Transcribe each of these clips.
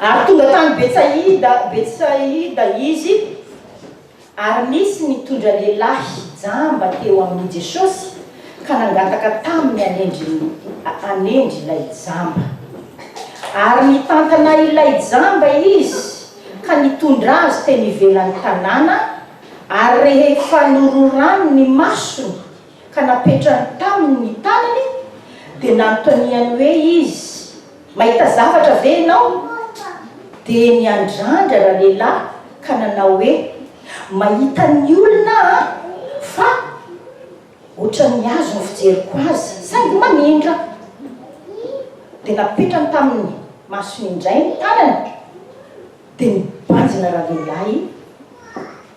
Ary tonga tany Betsaida, Betsaida izy, ary nisy nitondra lehilahy jamba teo amin'i Jesosy, ka nangataka taminy hanendry, hanendry ilay jamba. Ary nitantana ilay jamba izy, ka nitondra azy teny ivelan'ny tanàna, ary rehefa nororany ny masony, ka napetrany taminy ny tanany, dia nanontaniany hoe izy, Mahita zavatra ve ianao? Dia niandrandra ralehilahy ka nanao hoe, Mahita ny olona aho, fa ohatran'ny azy no fijeriko azy, saingy manindra. Dia napetrany taminy masony indray ny tanany, dia nibanjina ralehilahy.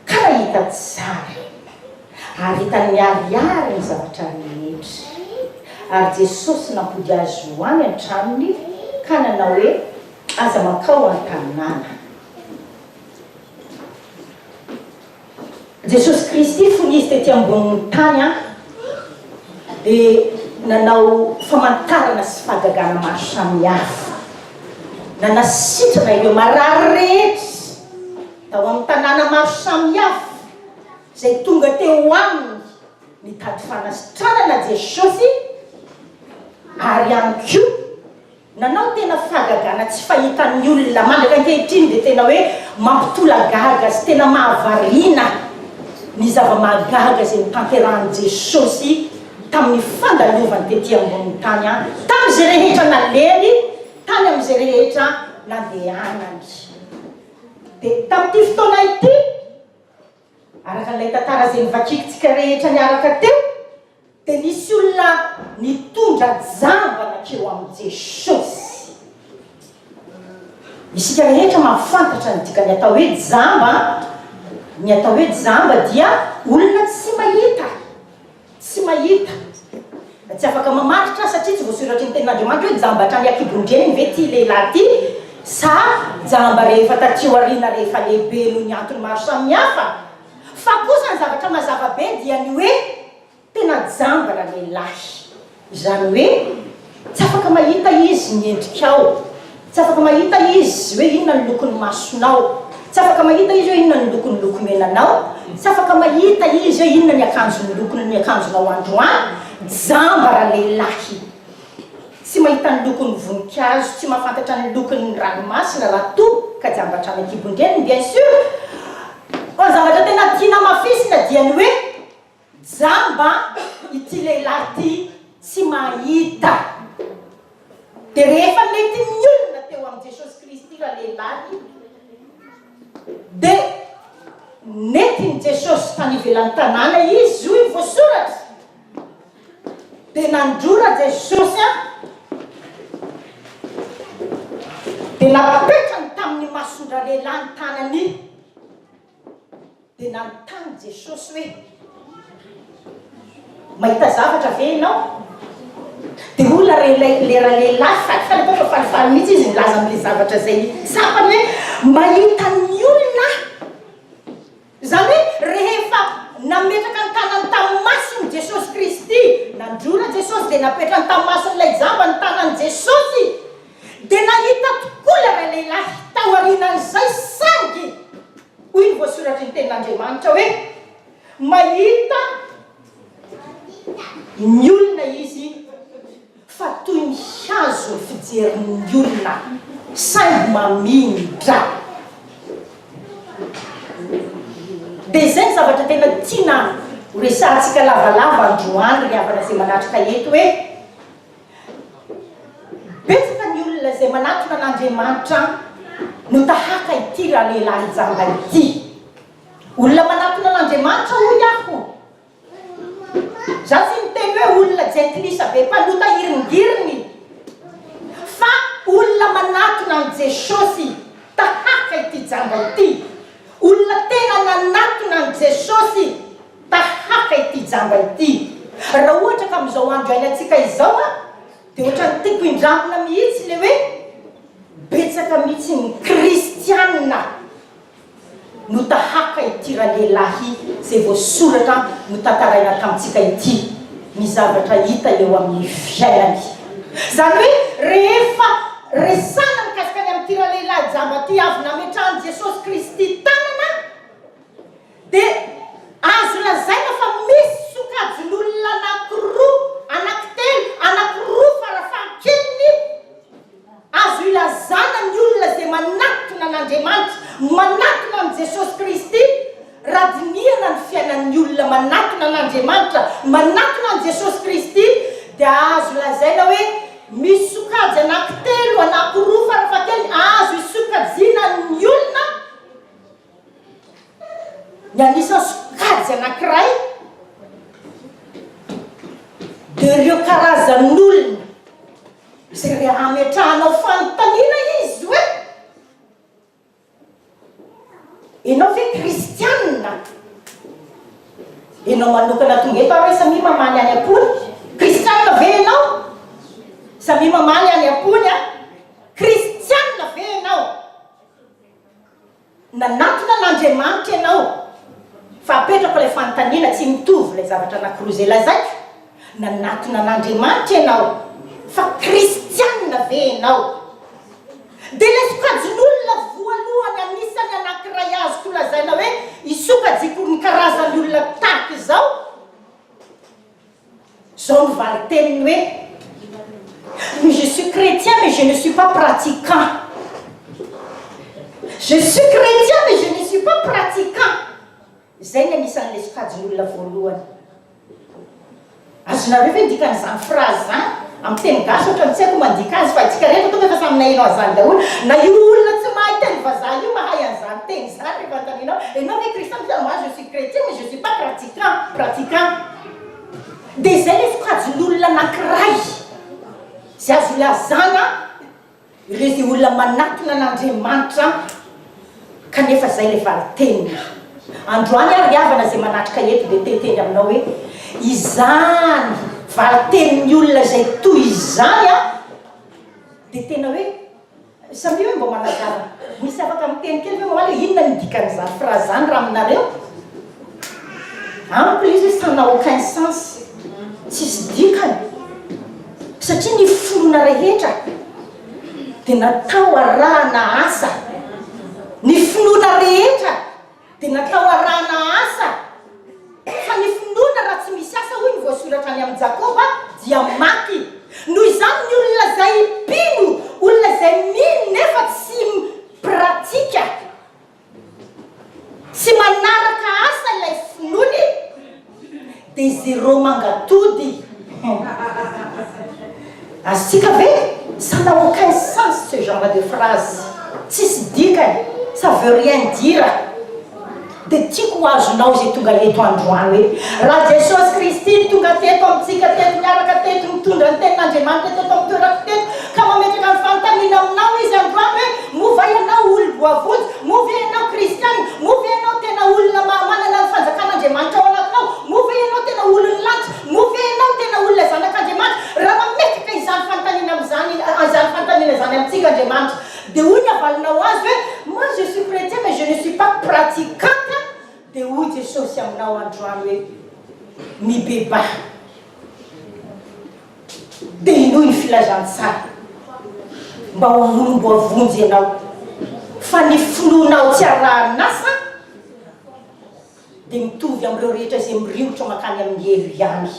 Ka hita tsara, ary hitany miharihary ny zavatra rehetra. Ary Jesosy nampody azy ho any an-tranony, ka nanao hoe, Aza mankao an-tanàna. Jesosy Kristy, fony Izy tety ambonin'ny tany, dia nanao famantarana sy fahagagana maro samihafa. Nanasitrana ireo marary rehetra. Tao amin'ny tanàna maro samihafa izay tonga teo aminy nitady fanasitranana Jesosy ary ihany koa nanao tena fahagagana tsy fahitan'ny olona mandraka ankehitriny dia tena hoe mampitolagaga sy tena mahavariana ny zava-mahagaga izay notanterahin'i Jesosy tamin'ny fandalovany tety ambonin'ny tany an tamin'izay rehetra naleany tany amin'izay rehetra nandehanany. Dia tamin'ity fotoana ity, araka an'ilay tantara izay novakiantsika rehetra niaraka teo, dia nisy olona nitondra jamba nankeo amin'i Jesosy. Isika rehetra mahafantatra ny dikan'ny atao hoe jamba. Ny atao hoe jamba dia olona tsy mahita. Tsy mahita, tsy afaka mamaritra satria tsy voasoratry ny tenin'Andriamanitra hoe jamba hatrany an-kibon-dreny ve ity lehilahy ity sa jamba rehefa taty aoriana rehefa lehibe noho ny antony maro samihafa. Fa kosa ny zavatra mazava be dia ny hoe tena jamba ralehilahy. Izany hoe, tsy afaka mahita Izy ny endrikao, tsy afaka mahita Izy hoe inona ny lokon'ny masonao, tsy afaka mahita Izy hoe inona ny lokon'ny lokomenanao, tsy afaka mahita Izy hoe inona ny akanjon'ny lokon'ny akanjonao androany, jamba ralehilahy. Tsy mahita ny lokon'ny voninkazo, tsy mahafantatra ny lokon'ny ranomasina raha toa ka jamba hatrany an-kibon-dreniny, bien sûr. Fa ny zavatra tena tiana hamafisina dia ny hoe. Jamba ity lehilahy ity tsy mahita. Dia rehefa nety nionona teo amin'i Jesosy Kristy ralehilahy, dia nentin'i Jesosy tany ivelan'ny tanàna izy, hoy ny voasoratra. Dia nandrora Jesosy aho, dia napetrany tamin'ny mason-dralehilahy ny tanany. Dia nanontany Jesosy hoe, Mahita zavatra ve ianao? Dia hoy ilay leralehilahy falifaly, angamba fa falifaly mihitsy izy nilaza amin'ilay zavatra izay tsapany hoe, Mahita ny olona aho. Izany hoe, rehefa nametraka ny tanany tamin'ny masony Jesosy Kristy, nandrora Jesosy dia napetrany tamin'ny mason'ilay jamba ny tanan'i Jesosy, dia nahita tokoa ilay ralehilahy taorianan'izay, saingy, Hoy ny voasoratry ny Tenin'Andriamanitra hoe, Mahita ny olona Izy fa toy ny hazo ny fijerin'ny olona, saingy mamia ny drà. Dia izay ny zavatra tena tiana horesahantsika lavalava androany ry havana izay manatrika eto hoe, Betsaka ny olona izay manatona an'Andriamanitra no tahaka ity ralehilahy jamba ity. Olona manatona an'Andriamanitra hoy aho. Za tsy miteny hoe olona jentilisa be mpanota iringiriny fa olona manatona an'i Jesosy tahaka ity jamba ity. Olona tena nanatona an'i Jesosy. Tahaka ity jamba ity. Raha ohatra ka amin'izao andro iainantsika izao an, dia ohatran'ny tiako indramina mihitsy ilay hoe betsaka mihitsy ny kristiana no tahaka ity ralehilahy izay voasoratra notantaraina tamintsika ity ny zavatra hitany eo amin'ny fiainany. Izany hoe rehefa resahina mikasika ny amin'ity ralehilahy jamba ity avy nametrahan'i Jesosy Kristy tanana, Dia azo lazaina fa misy sokajin'olona anankiroa, anankitelo, anankiroa farafahakeliny, azo ilazana ny olona izay manatona an'Andriamanitra, manatona an'i Jesosy Kristy, raha dinihana ny fiainan'ny olona manatona an'Andriamanitra, manatona an'i Jesosy Kristy, dia azo lazaina hoe misy sokajy anankitelo, anankiroa farafahakeliny, azo isokajiana ny olona. Ny anisan'ny sokajy anankiray dia ireo karazan'olona izay mba hametrahanao fanontaniana izy hoe ianao ve kristianina? Ianao manokana tonga eto ary samia mamaly any am-pony. Kristianina ve ianao? Samia mamaly any am-pony an. Kristianina ve ianao? Nanatona an'Andriamanitra ianao fa apetrako ilay fanontaniana, tsy mitovy ilay zavatra anankiroa izay lazaiko, nanatona an'Andriamanitra ianao fa kristianina ve ianao? Dia ilay sokajin'olona voalohany anisan'ny anankiray azoko lazaina hoe isokajiko ny karazan'ny olona tahaka izao, Zao no valin-teniny hoe mais je suis chrétien mais je ne suis pas pratiquant. Je suis chrétien mais je ne suis pas pratiquant. Izay ny anisan'ilay sokajin'olona voalohany. Azonareo ve ny dikan'izany phrase izany? Amin'ny teny gasy ohatra ny tsy haiko mandika azy fa antsika rehetra tonga efa samy naheno an'izany daholo. Na io olona tsy mahay teny vazaha io mahay an'izany teny izany rehefa anontanianao, ianao ve kristiana? Moi je suis chrétien mais je ne suis pas pratiquant. Trump pratiquant dia izay ilay sokajin'olona anankiray izay azo ilazana ireo izay olona manatona an'Andriamanitra kanefa izay ilay valin-teniny. Androany ary havana izay manatrika eto dia te-hiteny aminao hoe izany valin-tenin'ny olona izay toy izany dia tena hoe Samia hoe mba managara. Misy afaka miteny kely ve mamaly hoe inona no dikan'izany phrase zany raha aminareo? Amiko le izy hoe ça n'a aucun sens. Tsisy dikany. Satria ny finoana rehetra dia natao arahana asa. Ny finoana rehetra. Dia natao arahana asa, fa ny finoana raha tsy misy asa, hoy ny voasoratra any amin'ny Jakoba, dia maty. Noho izany, ny olona izay mpino, olona izay mino nefa tsy mi-pratika, tsy manaraka asa ilay finoany, Dia zero mangatody. Azontsika ve? Ça n'a aucun sens ce genre de phrase. Tsisy dikany, ça veut rien dire. Dia tiako ho azonao izay tonga eto androany hoe, Raha Jesosy Kristy no tonga teto amintsika teto, niaraka teto, nitondra ny Tenin'Andriamanitra teto amin'ny toerako teto, ka mametraka ny fanontaniana aminao Izy androany hoe, Mova ianao olom-boavonjy? Moa ve ianao kristiana? Moa ve ianao tena olona mahamanana ny fanjakan'Andriamanitra ao anatinao? Moa ve ianao tena olon'ny lanitra? Moa ve ianao tena olona zanak'Andriamanitra? Raha mametraka izany fanontaniana amin'izany, izany fanontaniana izany amintsika Andriamanitra, dia hoy ny havalinao azy hoe, Moi je suis chretien mais je ne suis pas pratiquante, dia hoy Jesosy aminao androany hoe, Mibebaha. Telo ny filazantsara mba ho volomboavonjy ianao fa ny finoanao tsy arahan'asa dia mitovy amin'ireo rehetra izay miriotra mankany amin'ny helo ihany.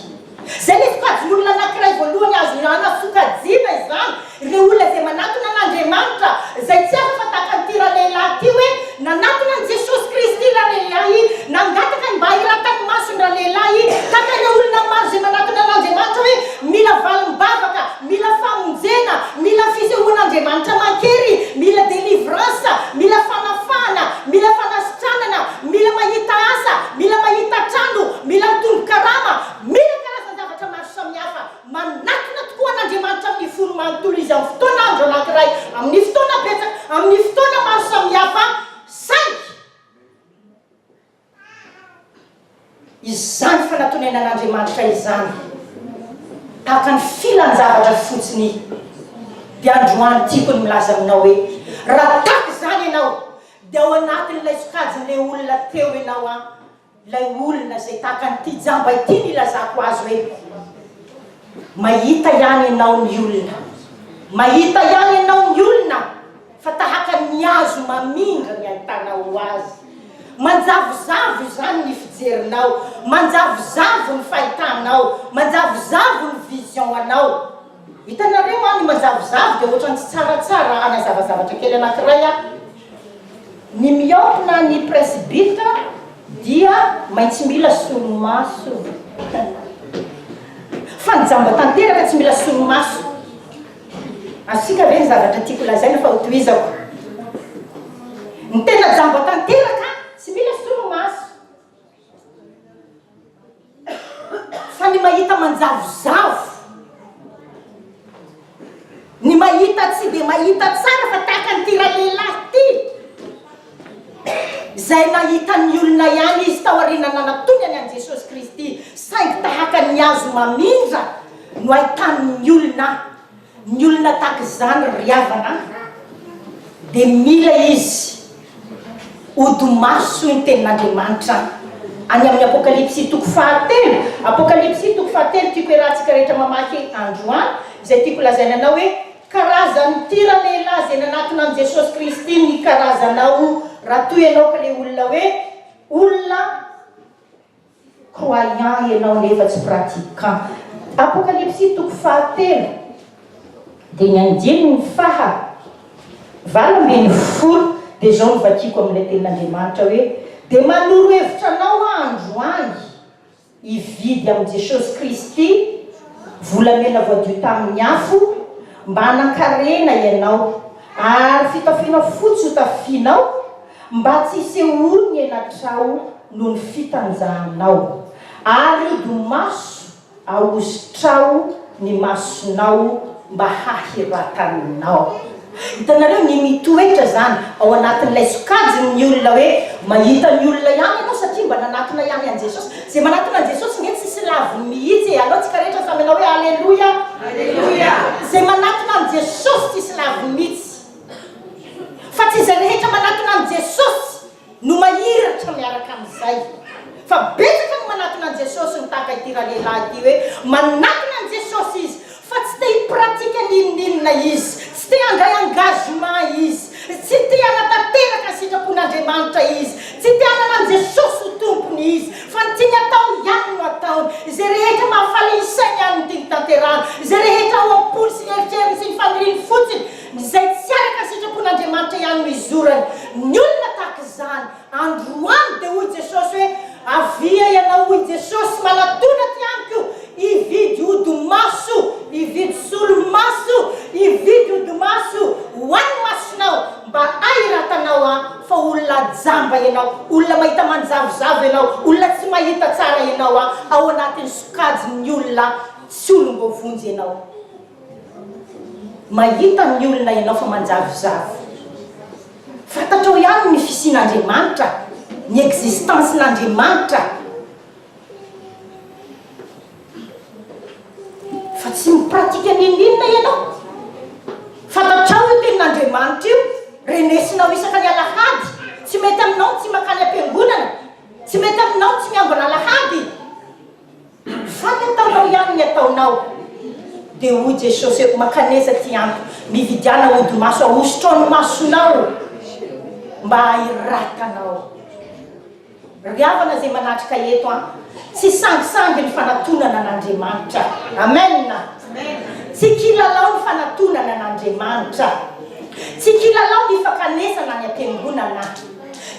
Izay ilay sokajin'olona anankiray voalohany azo ilana sokajiana izany. Ireo olona izay manatona an'Andriamanitra, izay tsy hafa fa tahaka an'ity ralehilahy ity hoe, nanatona an'i Jesosy Kristy ralehilahy, nangataka ny mba hiratany maso ny ralehilahy, tahaka ireo olona maro izay manatona an'Andriamanitra hoe, mila valim-bavaka, mila famonjena, mila fisehoan'Andriamanitra aman-kery, mila délivrance, mila fanafahana, mila fanasitranana, mila mahita asa, mila mahita trano, mila mitombo karama, mila karazan-javatra maro samihafa. Manatona tokoa an'Andriamanitra amin'ny fony manontolo izy amin'ny fotoana andro anankiray, amin'ny fotoana betsaka, amin'ny fotoana maro samihafa, saingy izany fanatonenan'Andriamanitra izany, tahaka ny filan-javatra fotsiny, dia androany tiako ny milaza aminao hoe, raha tahaka izany ianao, dia ao anatin'ilay sokajin'ilay olona teo ianao an! Ilay olona izay tahaka an'ity jamba ity no ilazako azy hoe, Mahita ihany ianao ny olona, mahita ihany ianao ny olona fa tahaka ny hazo mamindra ny ahitanao azy. Manjavozavo izany ny fijerinao, manjavozavo ny fahitanao, manjavozavo ny vision-anao. Hitanareo an ny mazavozavo dia ohatrany tsy tsara tsara hanazava zavatra kely anakiray aho. Ny miope na ny presbytre dia maintsy mila solomaso. Fa ny jamba tanteraka tsy mila solomaso. Asiaka ve ny zavatra tiako lazaina fa ho tohizako. Ny tena jamba tanteraka tsy mila solomaso. Fa ny mahita manjavozavo, ny mahita tsy dia mahita tsara fa tahaka an'ity ralehilahy ity, izay nahita ny olona ihany izy tao aoriana nanatonany an'i Jesosy Kristy, saingy tahaka ny hazo mamindra no ahitany ny olona. Ny olona tahaka izany ry havana a dia mila izy hody maso ny tenin'Andriamanitra any amin'ny Apokalypsy toko fahatelo, Apokalypsy toko fahatelo tiako iarahantsika rehetra mamaky androany izay tiako lazaina anao hoe karazan'ny ty ralehilahy izay nanatona an'i Jesosy Kristy ny karazanao raha toa ianao ka ilay olona hoe olona Croyant ianao nefa tsy pratiquant. Apokalypsy toko faha telo dia ny andininy faha valo ambin'ny folo dia izao no vakiako amin'ilay tenin'Andriamanitra hoe, Dia manoro hevitra anao aho androany hividy amin'i Jesosy Kristy volamena voadio tamin'ny afo mba hanan-karena ianao ary fitafiana fotsy hotafianao Mba tsy hisehoan' ny elatrao noho ny fitanjahanao, ary hodimaso ahositrao ny masonao mba hahiratanao. Hitanareo ny mitoetra izany ao anatin' ilay sokajin' ny olona hoe mahita ny olona ihany ianao satria mba nanatona ihany an' Jesosy. Izay manatona an' Jesosy nge tsisy laviny mihitsy e! Aleo antsika rehetra samy hanao hoe Aleloia! Izay manatona an' Jesosy tsisy laviny mihitsy. Fa tsy izay rehetra manatona an'i Jesosy no mahiratra miaraka amin'izay. Fa betsaka ny manatona an'i Jesosy no tahaka ity ralehilahy ity hoe manatona an'i Jesosy izy fa tsy te hi-pratique n'inon'inona izy, tsy te handray engagement izy, tsy te hanatanteraka ny sitrapon'Andriamanitra izy, tsy te hanana an'i Jesosy ho tompony izy fa ny tiany atao ihany no ataony. Izay rehetra mahafaly ny sainy ihany no tiany tanterahana, izay rehetra ao am-pony sy ny eritreriny sy ny faniriany fotsiny Izay tsy araka ny sitrapon'Andriamanitra ihany no izorany. Ny olona tahaka izany, androany dia hoy Jesosy hoe, Avia ianao, hoy Jesosy, manatona aty amiko, hividy odi-maso, hividy solomaso, hividy odi-maso ho an'ny masonao, mba hahiratanao Ahy, fa olona jamba ianao, olona mahita manjavozavo ianao, olona tsy mahita tsara ianao, ao anatin'ny sokajin'ny olona tsy olom-boavonjy ianao. Mahita ny olona ianao fa manjavozavo. Fantatrao ihany ny fisian'Andriamanitra, ny existence-n'Andriamanitra, fa tsy mi-pratique n'inon'inona ianao. Fantatrao io tenin'Andriamanitra io, renesinao isaka ny alahady, tsy mety aminao ny tsy mankany am-piangonana, tsy mety aminao ny tsy miambina alahady. Fantatanao ihany ny ataonao. Dia hoy Jesosy, Eto makanesa ty andro, mividiana hodi-maso ahosotra ao ny masonao mba hahiratanao. Ry havana izay manatrika eto an, tsy sangisangy ny fanatonana an'Andriamanitra. Amen. Tsy kilalao ny fanatonana an'Andriamanitra. Tsy kilalao ny fakanesana any am-piangonana.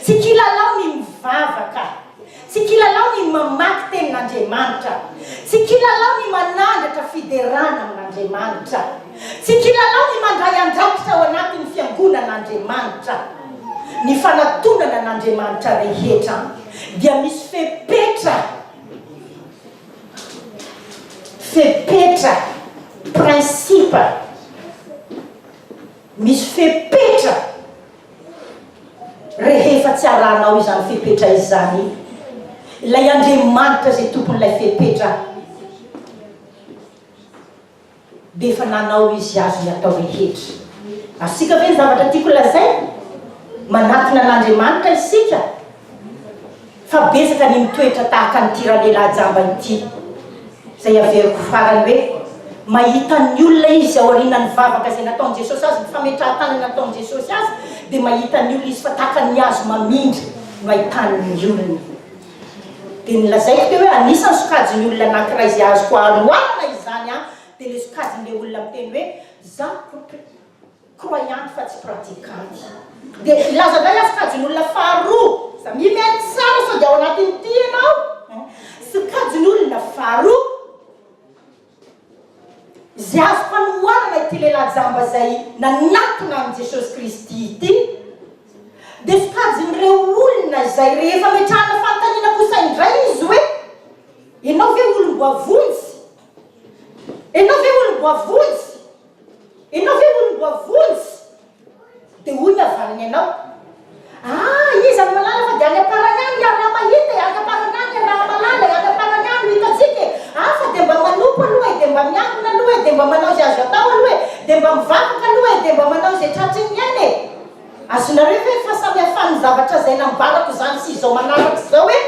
Tsy kilalao ny mivavaka. Tsy kilalao ny mamaky tenin'Andriamanitra. Tsy kilalao ny manandratra fiderana amin'Andriamanitra. Tsy kilalao ny mandray andraikitra ao anatin'ny fiangonan'Andriamanitra. Ny fanatonana an'Andriamanitra rehetra dia misy fepetra, fepetra, principe, misy fepetra. Rehefa tsy arahanao izany fepetra izany, ilay Andriamanitra izay Tompon'ilay fepetra dia efa nanao Izy azony atao rehetra. Azontsika ve ny zavatra tiako lazaina? Manatona an'Andriamanitra isika Fa betsaka ny mitoetra tahaka an'ity ralehilahy jamba ity, izay averiko farany hoe, mahita ny olona izy aorianan'ny vavaka izay nataon'i Jesosy azy, ny fametrahan-tanana nataon'i Jesosy azy, dia mahita ny olona izy fa tahaka ny hazo mamindra no ahitany ny olona. Dia nolazaiko teo hoe, anisan'ny sokajin'ny olona anankiray izay azoko aroharana izany aho, dia ilay sokajin'ilay olona miteny hoe, izaho koa. croyante fa tsy pratiquante. Dia hilaza indray aho sokajin'olona faharoa za mihaino tsara sao dia ao anatin'ity ianao eh. Sokajin'olona faharoa izay azoko anohanana ity lehilahy jamba izay nanatona an'i Jesosy Kristy ity dia sokajin'ireo olona izay rehefa metrahana fanontaniana kosa indray izy hoe ianao ve olom-boavonjy? Ianao ve olom-boavonjy? Ianao ve hono mboa vonjy? Dia hoy ny havaliny ianao, Ah! iza no malala fa dia any am-parany any hiary raha mahita e, any am-parany any hiary raha mahalala e, any am-parany any no hitantsika e, ah! fa dia mba manompo aloha e, dia mba miangona aloha e, dia mba manao izay azo atao aloha e, dia mba mivavaka aloha e, dia mba manao izay tratry ny aina e. Azonareo ve ny fahasamihafan'ny zavatra izay nambarako izany sy izao manaraka izao e?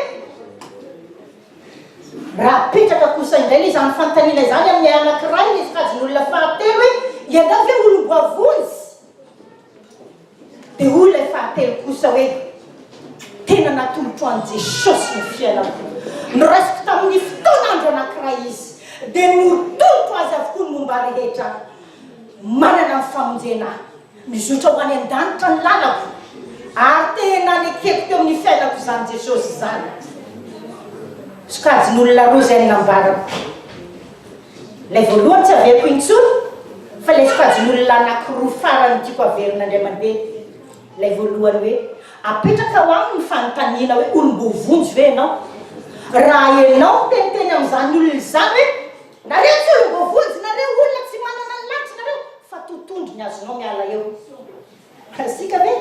Raha apetraka kosa indray ilay izany fanontaniana izany amin'ilay anankiray ilay sokajin'olona fahatelo hoe, ianao ve olom-boavonjy? Dia hoy ilay fahatelo kosa hoe, tena natolotro an'i Jesosy ny fiainako. Noraisiko tamin'ny fotoana andro anankiray izy, dia notolotro azy avokoa ny momba rehetra. Manana ny famonjena aho. Mizotra ho any an-danitra ny lalako, ary te nanekeko teo amin'ny fiainako izany Jesosy izany. Sokajin'olona roa izay nambarako. Ilay voalohany tsy averiko intsony, fa ilay sokajin'olona anankiroa farany tiako averina indray mandeha. Ilay voalohany hoe, apetraka ho aminy ny fanontaniana hoe olom-boavonjy ve ianao? Raha ianao miteniteny amin'izany olona izany hoe Nareo tsy olo voavonjy nareo olona tsy manana ny lanitra nareo fa totondro ny azonao miala eo Asika ve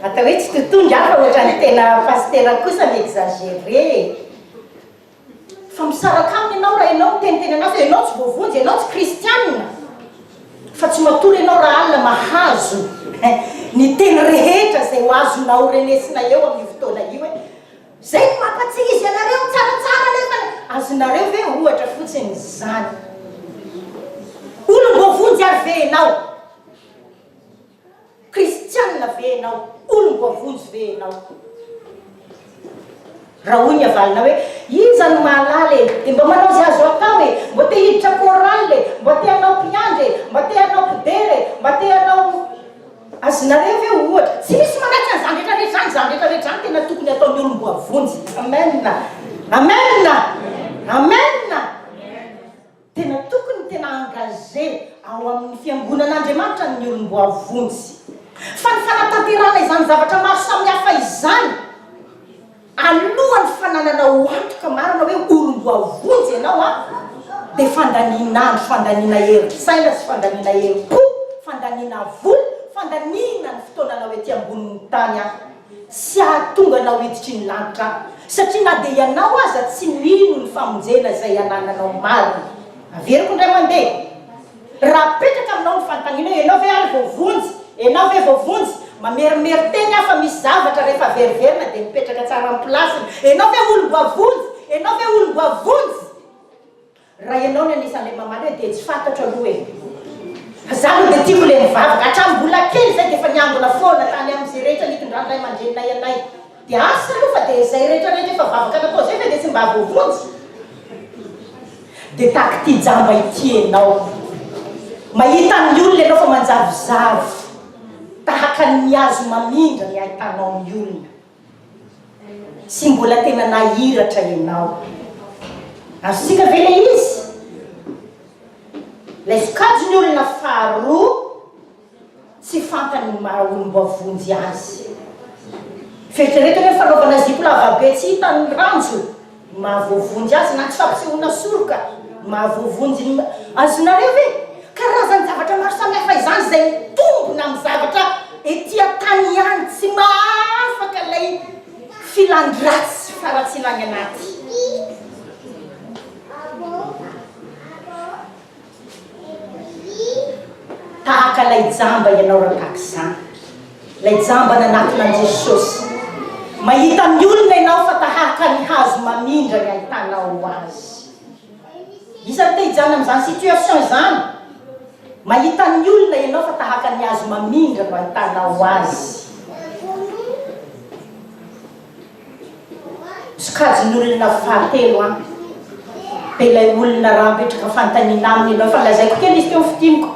atao hoe tsy totondro aho fa otrany tena pasitera kosa mi exagere e Fa misaraka aminy ianao raha ianao miteniteny anazy hoe ianao tsy voavonjy ianao tsy kristianina fa tsy matory ianao raha alina mahazo ny teny rehetra izay ho azonao renesina eo amin'io fotoana io hoe Zay no mampatsihizy anareo tsaratsara anefa azonareo ve ohatra fotsiny zany. Olom-boavonjy ary ve enao? Kristianina ve enao? Olom-boavonjy ve enao? Raha hoy ny havalona hoe, iza no mahalala e, dia mba manao izay azo atao e, mba te hiditra chorale e, mba te hanao mpiandry e, mba te hanao mpidera e, mba te hanao. Azonareo ve ohatra, tsy misy manaitra an'izany rehetra rehetra izany, izany rehetra rehetra izany tena tokony ataon'ny olom-boavonjy. Amen! Amen! Amen! Tena tokony tena engagé ao amin'ny fiangonan'Andriamanitra ny olom-boavonjy. Fa ny fanatanterahana izany zavatra maro samihafa izany, Alohan'ny fanananao ho antoka marina hoe olom-boavonjy ianao an, dia fandanian'andro, fandaniana herin-tsaina sy fandaniana herim-po, fandaniana vola, fandaniana ny fotoananao ety ambonin'ny tany an, tsy hahatonga anao hiditry ny lanitra an, satria na dia ianao aza tsy mino ny famonjena izay anananao marina. Averiko indray mandeha. Raha apetraka aminao ny fanontaniana hoe ianao ve ary vao vonjy? Ianao ve vao vonjy? Mamerimery teny aho fa misy zavatra rehefa veriverina dia mipetraka tsara amin'ny place-ny. Ianao ve olom-boavonjy? Ianao ve olom-boavonjy? Raha ianao ny anisan'ilay mamaly hoe dia tsy fantatro aloha e. Fa za aloha dia tiako ilay mivavaka. Hatramin'ny mbola kely izahay dia efa niangona foana tany amin'izay rehetra nitondran'ny ray aman-dreninay anay. Dia asa aloha fa dia izay rehetra rehetra efa vavaka natao izay ve dia tsy mba voavonjy? Dia tahaka ity jamba ity ianao. Mahita ny olona ianao fa manjavozavo, tahaka ny mihazo mamindra ny ahitanao ny olona. Tsy mbola tena nahiratra ianao. Azontsika ve ilay izy? Ilay sokajy ny olona faharoa. Tsy fantany ny maha olom-boavonjy azy. Fieritreretany hoe fanaovana zipo lavabe tsy hita ny ranjo no maha voavonjy azy na ny fampisehoana soroka no maha voavonjy ny Azonareo ve? Karazan-javatra maro samihafa izany izay mitombina amin'ny zavatra ety an-tany ihany, tsy mahaafaka ilay filan-dratsy faratsiana any anaty. Tahaka ilay jamba ianao Rakakizany, ilay jamba nanakona an'i Jesosy. Mahita ny olona ianao fa tahaka ny hazo mamindra ny ahitanao azy. Isan'ny te hijanona amin'izany situation izany. Mahita ny olona ianao fa tahaka ny hazo mamindra no ahitanao azy. Sokajin'olona fahatelo an! Dia ilay olona raha apetraka fanontaniana aminy ianao, efa nolazaiko kely izy teo ny fintiniko,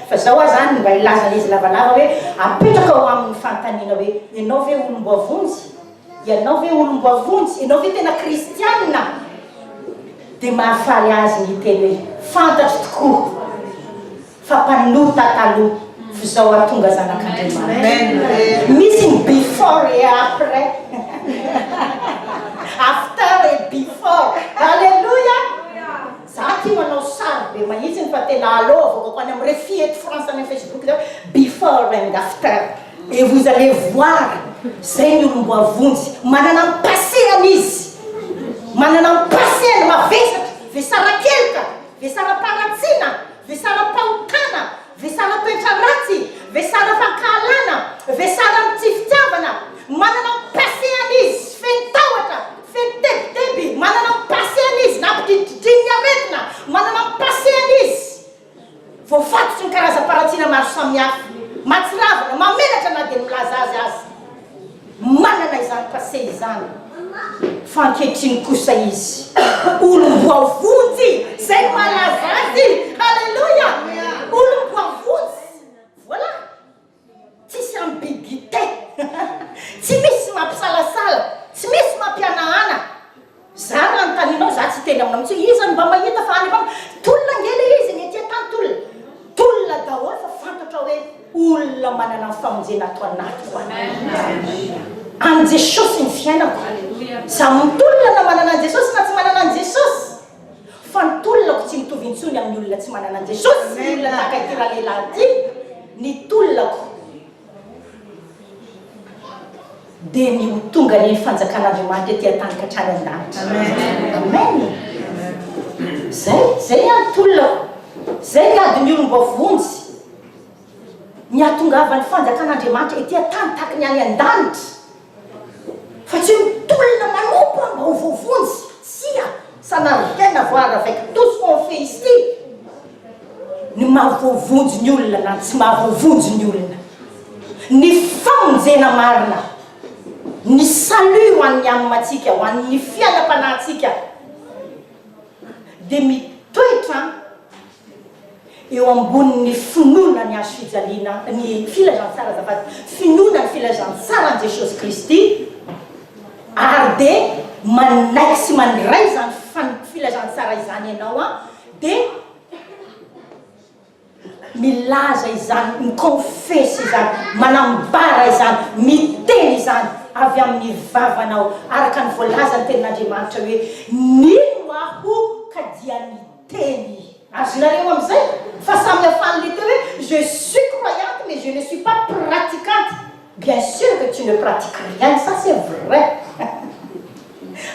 fa izao aho izany mba hilaza an'izy lavalava hoe, apetraka ho aminy ny fanontaniana hoe, ianao ve olom-boavonjy? Ianao ve olom-boavonjy? Ianao ve tena kristianina? Dia mahafaly azy ny hiteny hoe, fantatro tokoa! Fa mpanota taloha f'izao ary tonga zanak'Andriamanitra. Misy ny before et après. After et before. Alléluia! Za tia manao sary be mahitsiny fa tena allo avoakako any am refi eto France any am Facebook zao before and after. Et vous allez voir zay ny olom-boavonjy manana ny passé-any izy. Manana ny passé-any mavesatra, vesara-keloka, vesara-paharatsiana. Vesaram-pahotana, vesaran-toetra ratsy, vesaram-pankahalana, vesaran'ny tsy fitiavana, manana ny passé-any izy, feno tahotra, feno tebiteby, manana ny passé-any izy, nampidinididin'ny aretina, manana ny passé-any izy, voafatotry ny karazam-paharatsiana maro samihafa, mahatsiravina, mahamenatra na dia ny milaza azy aza. Manana izany passé izany fa ankehitriny kosa izy olom-boavonjy izay no mahalaza azy. Alléluia! Olom-boavonjy. Voilà! Tsisy ambiguïté. Tsy misy mampisalasala, tsy misy mampihanahana. Zany no anontanianao za tsy hiteny aminao intsony iza no mba mahita fa any am tolona ange le izy ny aty an tany tolona daholo fa fantatrao hoe olona manana ny famonjena ato anatiko an any jesosy ny fiainako za mitolona na manana any jesosy na tsy manana any jesosy fa ny tolonako tsy mitovy intsony amin'ny olona tsy manana any jesosy ny olona tahaka ity ralehilahy ity ny tolonako dia ny ho tonga ny fanjakan'Andriamanitra ety an-tany ka hatrany an-danitra. Amen. Zay, zay ny antolona. Zay ny adin'ny olom-boavonjy. Ny hahatongavan'ny fanjakan'Andriamanitra ety an-tany tahaka ny any an-danitra. Fa tsy ny tolona manompa mba ho voavonjy, tsia, ça n'a rien à voir avec tout ce qu'on fait ici, ny maha voavonjy ny olona na ny tsy maha voavonjy ny olona. Ny famonjena marina, ny salut ho an'ny âme-ntsika, ho an'ny fiainam-panahintsika dia mitoetra. eo ambonin' ny finoana ny hazo fijaliana ny filazantsara azafady finoana ny filazantsara an'i Jesosy Kristy ary dia manaiky sy mandray izany fan filazantsara izany ianao an dia milaza izany mi-confesse izany manambara izany miteny izany avy amin'ny vavanao araka ny voalazan'ny tenin'Andriamanitra hoe mino aho ka dia Teny. Azonareo amin'izay fa samy hafan'ilay teny hoe je suis croyante mais je ne suis pas praticante. Bien sur que tu ne pratiques rien, ça c'est vrai.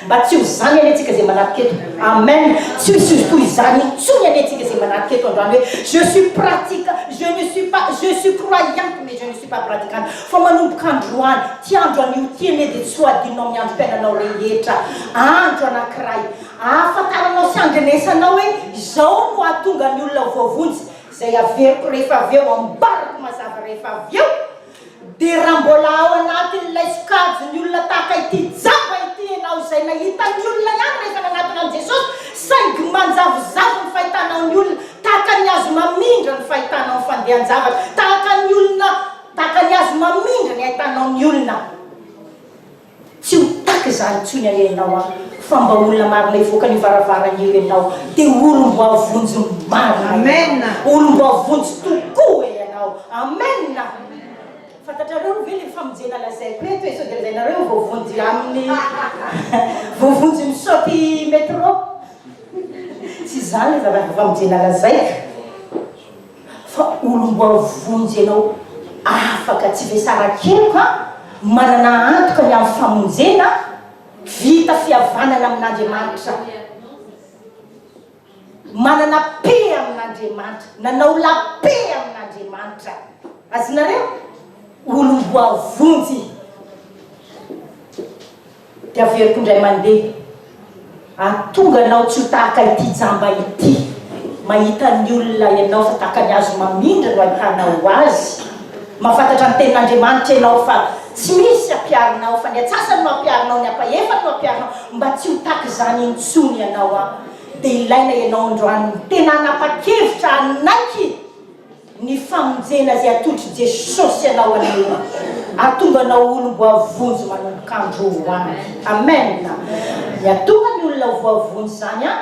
Mba tsy ho izany anie tsika izay manarka eto. Amen. Tsy ho hisy ho izany intsony anie tsika izay manarka eto androany hoe je suis pratique, je ne suis pas, je suis croyante mais je ne suis pas praticante. Fa manomboka androany, ity andro anio ity anie dia tsy ho adinonao amin'ny androm-piainanao rehetra. Andro anankiray. Ahafantaranao sy andrenesanao hoe izao no hahatonga ny olona ho voavonjy, izay averiko rehefa avy eo, ambarako mazava rehefa avy eo, dia raha mbola ao anatin'ilay sokajin'ny olona tahaka ity jamba ity ianao, izay nahita ny olona ihany rehefa nanatona an'i Jesosy, saingy manjavozavo ny fahitanao ny olona, tahaka ny azy mamindra ny fahitanao ny fandehan-javatra, tahaka ny olona, tahaka ny azy mamindra ny hahitanao ny olona. Tsy ho taka izany intsony anie ianao an! Fa mba olona marina hivoaka an'io varavarana io ianao dia olom-boavonjy marina ianao! Olom-boavonjy tokoa e ianao! Amen a! Fantatrareo ve ilay famonjena lazaiko eto e? Sao dia lazainareo voavonjy amin'ny voavonjy misaoty metro? Tsy izany ilay zava-famonjena lazaiko. Fa olom-boavy vonjy ianao afaka tsy vesaran-keloka manana antoka ny amin'ny famonjena vita fihavanana amin'Andriamanitra manana paix amin'Andriamanitra nanao la paix amin'Andriamanitra azonareo olom-boavy vonjy Dia averiko indray mandeha. Ary tonga anao tsy ho tahaka ity jamba ity. Mahita ny olona ianao fa tahaka ny hazo mamindra no ahitanao azy. Mahafantatra ny tenin'Andriamanitra ianao fa tsy misy hampiaro anao fa ny atsasany no hampiaro anao, ny ampahefany no hampiaro anao. Mba tsy ho tahaka izany intsony ianao aho. Dia ilaina ianao androany. Tena hanapa-kevitra hanaiky. Ny famonjena izay atolotry Jesosy anao aloha ahatonga anao olom-boavonjy manomboka andro ho any. Amen. Ny ahatonga ny olona ho voavonjy izany an,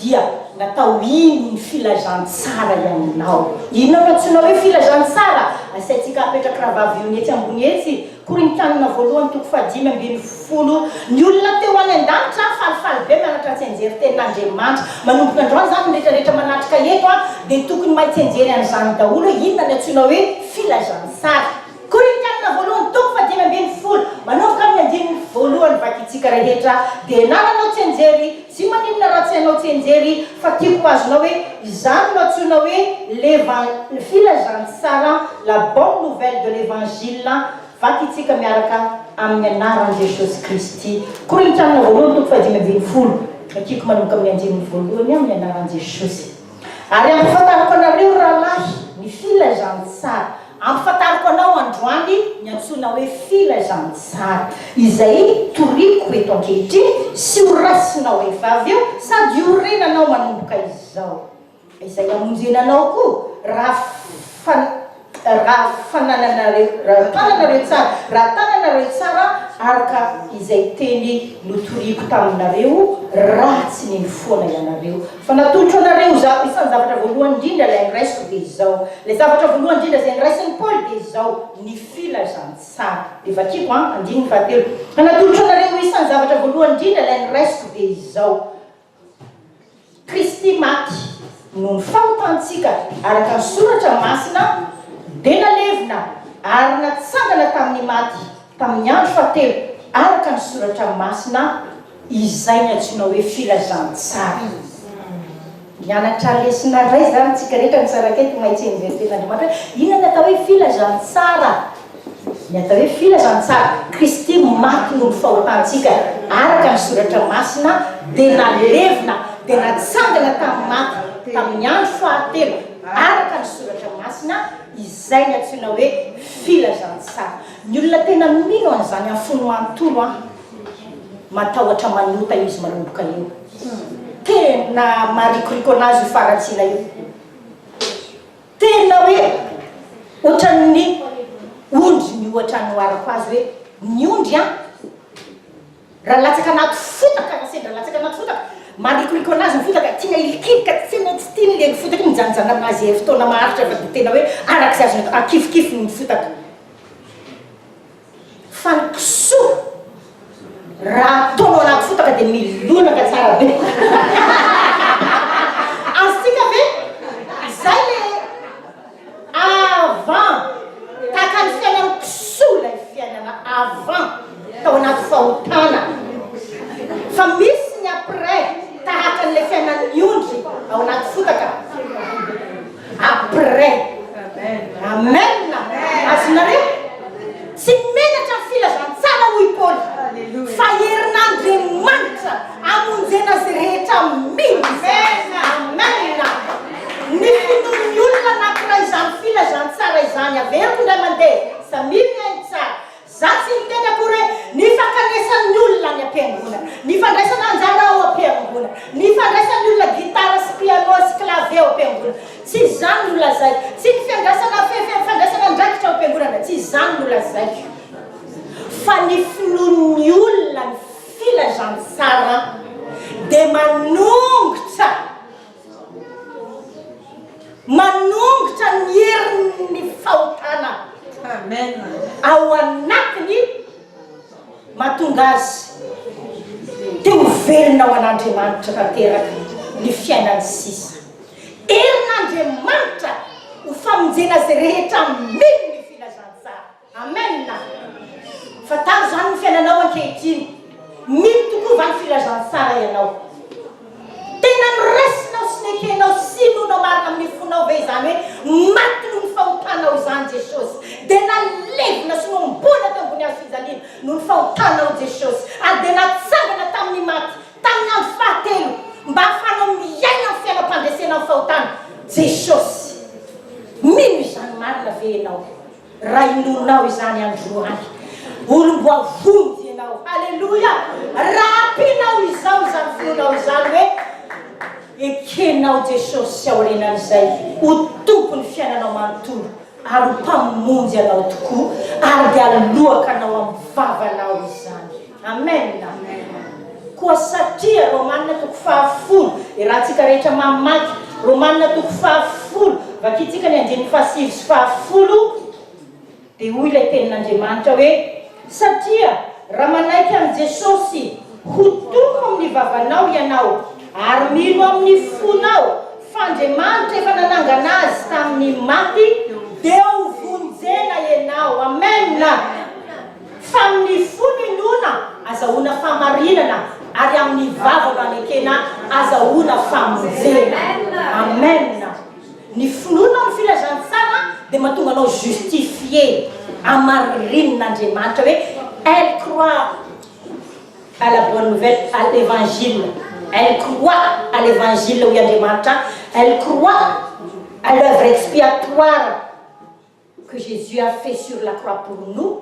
dia natao iny ny filazantsara iaminao. Inona no antsoina hoe filazantsara? Asaintsika apetraky Rahavavy Yone etsy ambony etsy Korintianina voalohany toko fahadimy ambin'ny folo Ny olona teo any an-danitra falifaly be mianatra Tsianjery tenin' Andriamanitra Manomboka androany izany ny rehetra rehetra manatrika eto a dia tokony mahay tsianjery an' izany daholo hoe inona ny antsoina hoe filazantsara Korintianina voalohany toko fahadimy ambin'ny folo Manomboka amin' ny andininy voalohany Vakintsika rehetra dia nananao tsianjery Tsy maninona raha tsy hanao tsianjery fa tiako ho azonao hoe izany no antsoina hoe levan filazantsara la bonne nouvelle de l'evangile vakitsika miaraka amin'ny anaran'i Jesosy Kristy Korintiana voalohany toko fahadimy ambin'ny folo Vakiko manomboka amin'ny andininy voalohany amin'ny anaran'i Jesosy. Ary ampafantariko anareo, ry rahalahy, ny filazantsara. Ampafantariko anao androany ny antsoina hoe filazantsara, izay toriako eto ankehitriny, sy horaisinao rehefa avy eo, sady hiorenanao manomboka izao. Izay hamonjena anao koa, raha fa. Raha fanananareo, raha tananareo tsara, raha tananareo tsara araka izay teny notoriako taminareo, raha tsy nino foana ianareo, fa natolotro anareo izaho, isan'ny zavatra voalohany indrindra ilay niraisiko dia izao, ilay zavatra voalohany indrindra izay niraisin'i Paoly dia izao, ny filazantsara. Dia vakiko an, andininy fahatelo, Fa natolotro anareo, isan'ny zavatra voalohany indrindra ilay niraisiko dia izao. Kristy maty noho ny fahotantsika araka ny Soratra Masina, dia nalevina ary natsangana tamin'ny maty tamin'ny andro fahatelo araka ny Soratra Masina, izay ny antsoina hoe filazantsara. Mianatra lesona iray izany isika rehetra misaraka eto, mahay tsy enjehin'ny Tenin'Andriamanitra hoe inona ny atao hoe filazantsara. Ny atao hoe filazantsara, Kristy maty noho ny fahotantsika araka ny Soratra Masina, dia nalevina, dia natsangana tamin'ny maty tamin'ny andro fahatelo araka ny Soratra Masina, izay no antsoina hoe filazantsara. Ny olona tena mino an'izany amin'ny fony manontolo an, matahotra manota izy manomboka eo. Tena marikoriko anazy io faharatsiana io. Tena hoe ohatran'ny ondry ny ohatra anoharako azy hoe ny ondry an! raha latsaka anaty fotaka na sendra latsaka anaty fotaka, marikoriko anazy ny fotaka, tiana hilikilika, tena tsy tiany ilay fotaka iny mijanojano amin'azy ery fotoana maharitra fa dia tena hoe arak'izay azony atao, akifokifoiny ny fotaka. Fa ny kisoa raha ataonao anaty fotaka dia milonaka tsara be. Azontsika ve? Izay le avant. Tahaka ny fiainan'ny kisoa ilay fiainana avant, tao anaty fahotana. Fa misy ny après, tahaka an'ilay fiainan'ny ondry ao anaty fotaka. après amen azonareo tsy menatra ny filazantsara hoy i paoly fa herin'andriamanitra amonjena azy rehetra mihitsy amen ny finoan'ny olona anakiray izany filazantsara izany averiko indray mandeha samia mihaino tsara Za tsy miteny akory hoe ny fankanesan'ny olona any am-piangonana, ny fandraisana anjara ao am-piangonana, ny fandraisan'ny olona gitara sy piano sy clavier ao am-piangonana. Tsy izany no lazaiko. Tsy ny fiandrasana fefy, fandraisana andraikitra ao am-piangonana, tsy izany no lazaiko. Fa ny finoan'ny olona ny filazantsara dia manongotra. Manongotra ny herin'ny fahotana ao anatiny mahatonga azy te ho velona ho an'Andriamanitra tanteraka ny fiainany sisa. Herin'Andriamanitra ho famonjena azy rehetra. Amena. Amen a! Fantaro izany ny fiainanao ankehitriny. Mino tokoa va ny filazantsara ianao? Tena noraisinao sy nekenao sy inoanao marina amin'ny fonao ve izany hoe maty noho ny fahotanao izany Jesosy? Dia nalevina sy nohomboana teo ambony hazofijaliana noho ny fahotanao Jesosy ary dia natsangana tamin'ny maty tamin'ny andro fahatelo mba hahafahanao miaina amin'ny fiainam-pandresena ny fahotana Jesosy. Mino izany marina ve ianao? Raha inoanao izany androany, olom-boavonjy ianao. Haleloia! Raha ampianao izao izany finoanao izany hoe ekenao Jesosy sy aorianan'izay ho Tompon'ny fiainanao manontolo ary ho Mpamonjy anao tokoa, ary dia aloakanao amin'ny vavanao izany. Amen! Koa satria Romanina toko fahafolo, iarahantsika rehetra mamaky Romanina toko fahafolo, vakintsika ny andininy fahasivy sy fahafolo, dia hoy ilay Tenin'Andriamanitra hoe, Satria raha manaiky an'i Jesosy ho Tompo amin'ny vavanao ianao, ary mino amin'ny fonao fa Andriamanitra efa nanangana Azy tamin'ny maty, dia ho vonjena ianao. Amen! Fa amin'ny fo no inoana, azahoana fahamarinana, ary amin'ny vava no anekena, azahoana famonjena. Amen! Ny finoana amin'ny filazantsara dia mahatonga anao justifié, amarinin'Andriamanitra, hoe elle croit à la bonne nouvelle, à l'Evangile, elle croit à l'Evangile, hoy Andriamanitra, elle croit à l'oeuvre expiatoire. que Jesus a fait sur la croix pour nous,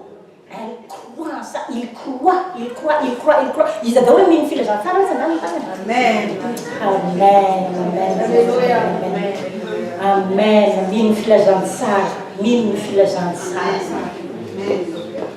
elle croit en ça, il croit, il croit, il croit, il croit, iza daholo amin'iny ny filazantsara aza angamba fa ny Amen, Amen, Amen, Alléluia, Amen, Amen, mino ny filazantsara, mino ny filazantsara.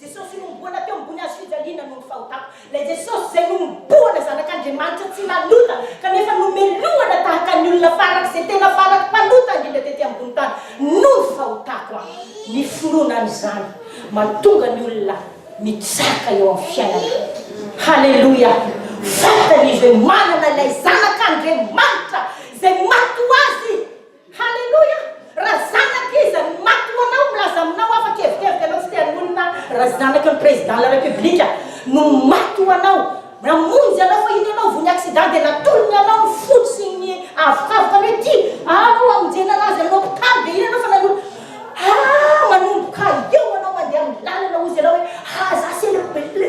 Jesosy inomboana teo ambony hazo fijaliana noho ny fahotako. Ilay Jesosy izay nohomboana Zanak'Andriamanitra tsy nanota kanefa nomelohana tahaka ny olona farak'izay tena faraky mpanota indrindra tety ambony tany noho ny fahotako aho. Ny finoana an'izany mahatonga ny olona mitsaka eo amin'ny fiainana. Haleloia! Fantany izy hoe manana ilay Zanak'Andriamanitra izay maty ho azy. Haleloia! Raha zanaka iza no maty ho anao milaza aminao aho fa kevikevika anao tsy te hanolona raha zanaka ny président de la république no maty ho anao namonjy anao fa iny ianao vao ny accident dia natolony anao ny fody sy ny avokavoka ny hoe ty aho no hamonjena anazy any hopitaly dia iny ianao fa nanolo ah manomboka eo anao mandeha amin'ny lalana hozy ianao hoe aza asy ela be le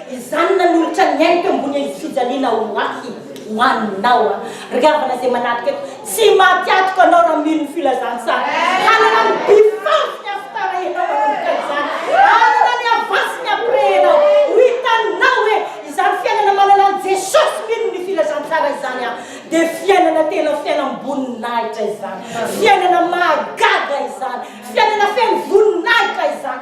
Izany nanolotra ny ainy teo ambony endrik'i fijaliana ho ahy, ho anao an. Ry havana izay manadika eto, tsy maty atoko anao raha mino ny filazantsara. Hanana ny befandro ny after enao manomboka izany. Hanana ny avance ny après enao. Ho hitanao hoe izany fiainana manana an'i Jesosy mino ny filazantsara izany an, dia fiainana tena fiainam-boninahitra izany. Fiainana mahagaga izany. Fiainana feno voninahitra izany.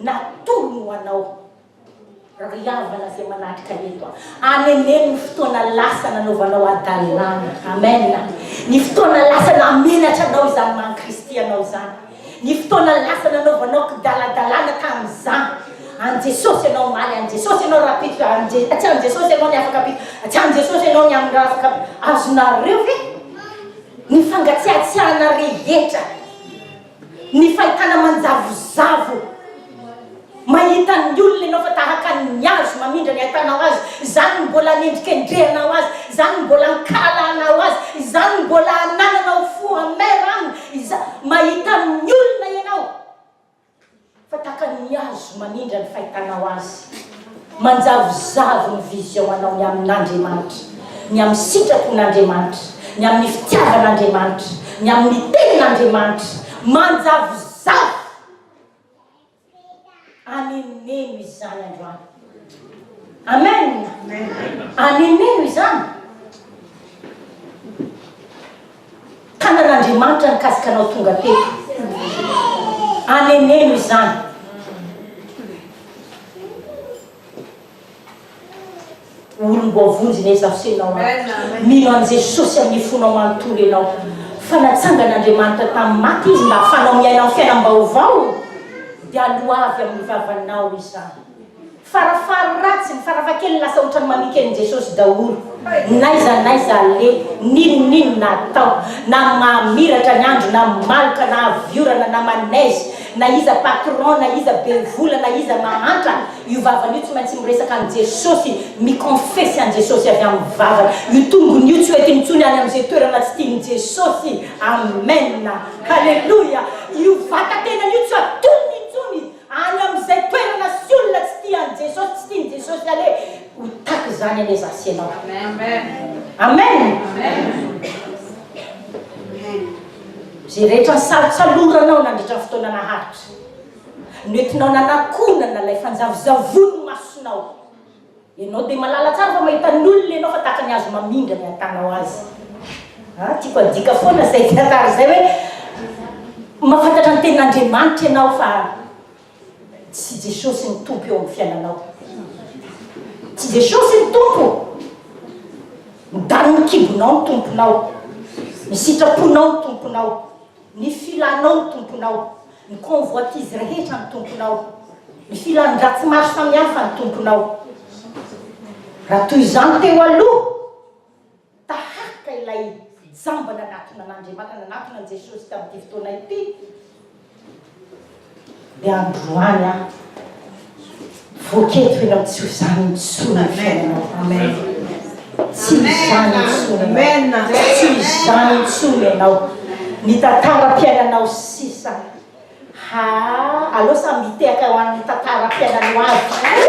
Natolony ho anao Ry havana izay manatrika eto a. Aneneno ny fotoana lasa nanaovanao hadalana. Amen. Ny fotoana lasa namenatra anao izany maha Kristy anao izany. Ny fotoana lasa nanaovanao kidaladalana tamin'izany. An'i Jesosy ianao omaly, an'i Jesosy ianao rahampitso, an'i atsy an'i Jesosy ianao ny afak'ampitso, atsy an'i Jesosy ianao ny amin'ny afak'ampitso. Azonareo ve? Ny fangatsiatsiahana rehetra. Ny fahitana manjavozavo mahita ny olona ianao fa tahaka ny hazo mamindra ny ahitanao azy, izany no mbola anendrikendrehanao azy, izany no mbola ankalalahanao azy, izany no mbola anananao fo amer aminy, izany, mahita ny olona ianao. Fa tahaka ny hazo manindra ny fahitanao azy, manjavozavo ny vision-anao ny amin'Andriamanitra, ny amin'ny sitrapon'Andriamanitra, ny amin'ny fitiavan'Andriamanitra, ny amin'ny tenin'Andriamanitra, manjavozavo! Aneneno izany androany. Amen! Aneneno izany! Tanan'Andriamanitra nikasika anao tonga teto. Aneneno izany. Olom-boavonjy ne Zaho sy ianao a. Mino an'i Jesosy amin'ny fonao manontolo ianao fa natsangan'Andriamanitra tamin'ny maty Izy mba hahafahanao miaina amin'ny fiainam-baovao, dia aloavy amin'ny vavanao izany. Farafahary ratsiny, farafahakeliny lasa ohatran'ny mamika an'i Jesosy daholo. N'aiza n'aiza aleha, n'inon'inona atao, na mamiratra ny andro, na maloka, na avy orana, na manaizy, na iza patron, na iza be vola, na iza mahantra, io vavany io tsy maintsy miresaka an'i Jesosy, mi-confesse an'i Jesosy avy amin'ny vavany. Io tongony io tsy ho entiny intsony any amin'izay toerana tsy tian'i Jesosy. Amen! Haleloia! Io vatan-tenany io tsy ho atolony intsony izy. Any amin' izay toerana sy olona tsy tia an'i Jesosy, tsy tian'i Jesosy anie, ho tak' izany anie za sy ianao. Amen! Izay rehetra nisalotsaloranao nandritra ny fotoana naharitra, noentinao nanakonana ilay fanjavozavon'ny masonao. Ianao dia malala tsara fa mahita ny olona ianao fa tahaka ny hazo mamindra ny hatanao azy. Ah, tiako adika foana izay tantara izay hoe mahafantatra ny tenin'Andriamanitra ianao fa tsy Jesosy ny Tompo eo amin'ny fiainanao. Tsy Jesosy ny Tompo. Midanin'ny kibonao ny Tomponao. Ny sitraponao ny Tomponao. Ny filanao ny Tomponao. Ny convoitise rehetra ny Tomponao. Ny filan-dratsy maro samihafa ny Tomponao. Raha toy izany teo aloha, taharika ilay jamba nanatona an'Andriamanitra, nanatona an'i Jesosy tamin'ity fotoana ity. Dia androany aho voaketiko eny amin'ny tsy ho izany intsony ny fiainanao. Amen. Tsy ho izany intsony ianao. Tsy ho izany intsony ianao. Ny tantaram-piainanao sisa. Ha, aleo samy mitehaka ho an'ny tantaram-piainanao avy.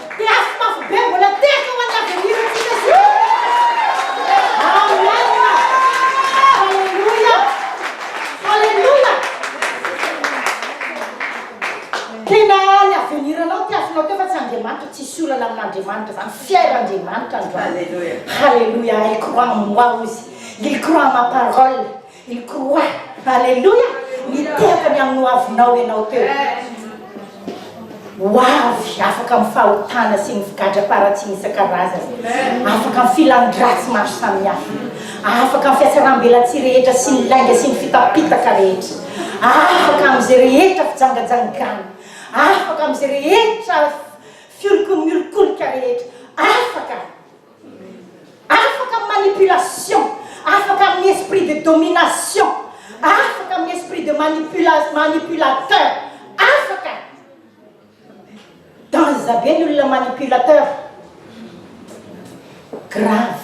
Dia azo mafy be mbola tehaka ho an'ny avenir ntsika sy ny rehetra. Amen! Haleloia! Haleloia! Tena ny avenir nao tiavinao teo fa tsy Andriamanitra tsisy olana amin'Andriamanitra zany fier Andriamanitra androany. Haleloia! Haleloia! Elle croit en moi hozy. Il croit en ma parole. I croix Alléluia Miteraka ny amin'ny hoavinao ianao teo Ho avy afaka amin'ny fahotana sy ny figadram-paharatsiny isan-karazany Afaka amin'ny filan-dratsy maro samihafa Afaka amin'ny fiatsaram-belatsihy rehetra sy ny lainga sy ny fitapitaka rehetra Afaka amin'izay rehetra fijangajangana Afaka amin'izay rehetra fiolokon-miolikolika rehetra Afaka Afaka amin'ny manipulation, afaka amin'ny esprit de domination, afaka amin'ny esprit de manipula, manipulateur, afaka! Danger be ny olona manipulateur, grave.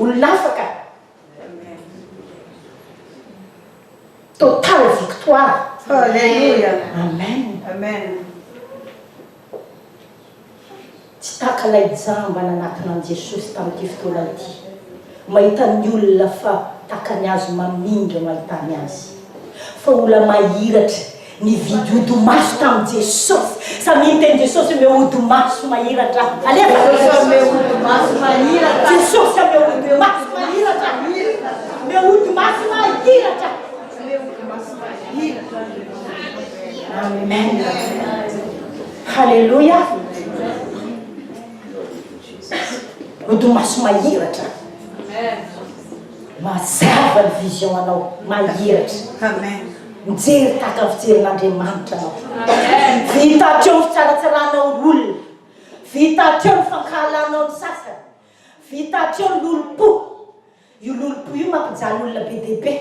Olona hafa ka. Total victoire. Alléluia. Amen. Amen. Tsy taka ilay jamba nanatona an'i Jesosy tamin'ity fotoana ity. Mahita ny olona fa taka ny azy mamindra mahita ny azy. Fa olona mahiratra Nividy ody maso tamin'i Jesosy. Samia niteny Jesosy, Omeo ody maso mahiratra aho. Alefa! Jesosy hanome ody maso mahiratra. Jesosy hanome ody maso mahiratra. Omeo ody maso mahiratra. Omeo ody maso mahiratra. Amen. Haleloia. Ody maso mahiratra. Amen. Mazava ny vision anao mahiratra. Amen. Mijery tahaka ny fijerin'Andriamanitra anao. Vita hatreo ny fitsaratsarànao ny olona. Vita hatreo ny fankahalanao ny sasany. Vita hatreo ny lolompo. Io lolompo io mampijaly olona be dia be.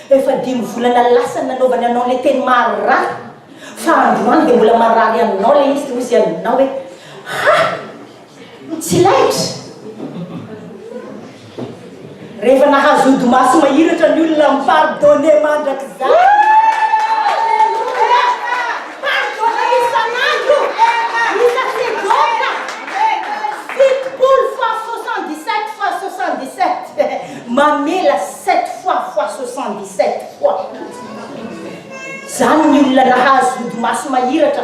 Efa dimy volana lasa ny nanaovany anao ilay teny maharary, fa androany dia mbola marary aminao ilay izy, dia hoy izy aminao hoe, Ha! Tsy laitra! Rehefa nahazo odi-maso mahiratra ny olona am pardonner mandrakizay! Mamela sept fois fois soixante dix sept fois zany ny olona nahazo odi-maso mahiratra.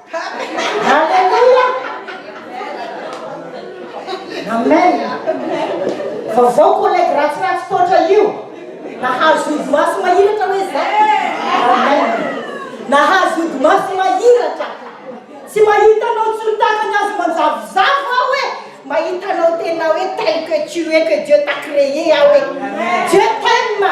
Aleloia! Amen! Vaovao collègue ratsiratsy toatra io! Nahazo ody maso mahiratra hoe zay! Amen! Nahazo ody maso mahiratra! Tsy mahita anao tsy mitazany azy manjavozavo aho hoe mahita anao tena hoe tel que tu es que Dieu t'a créé aho hoe Dieu t'aime!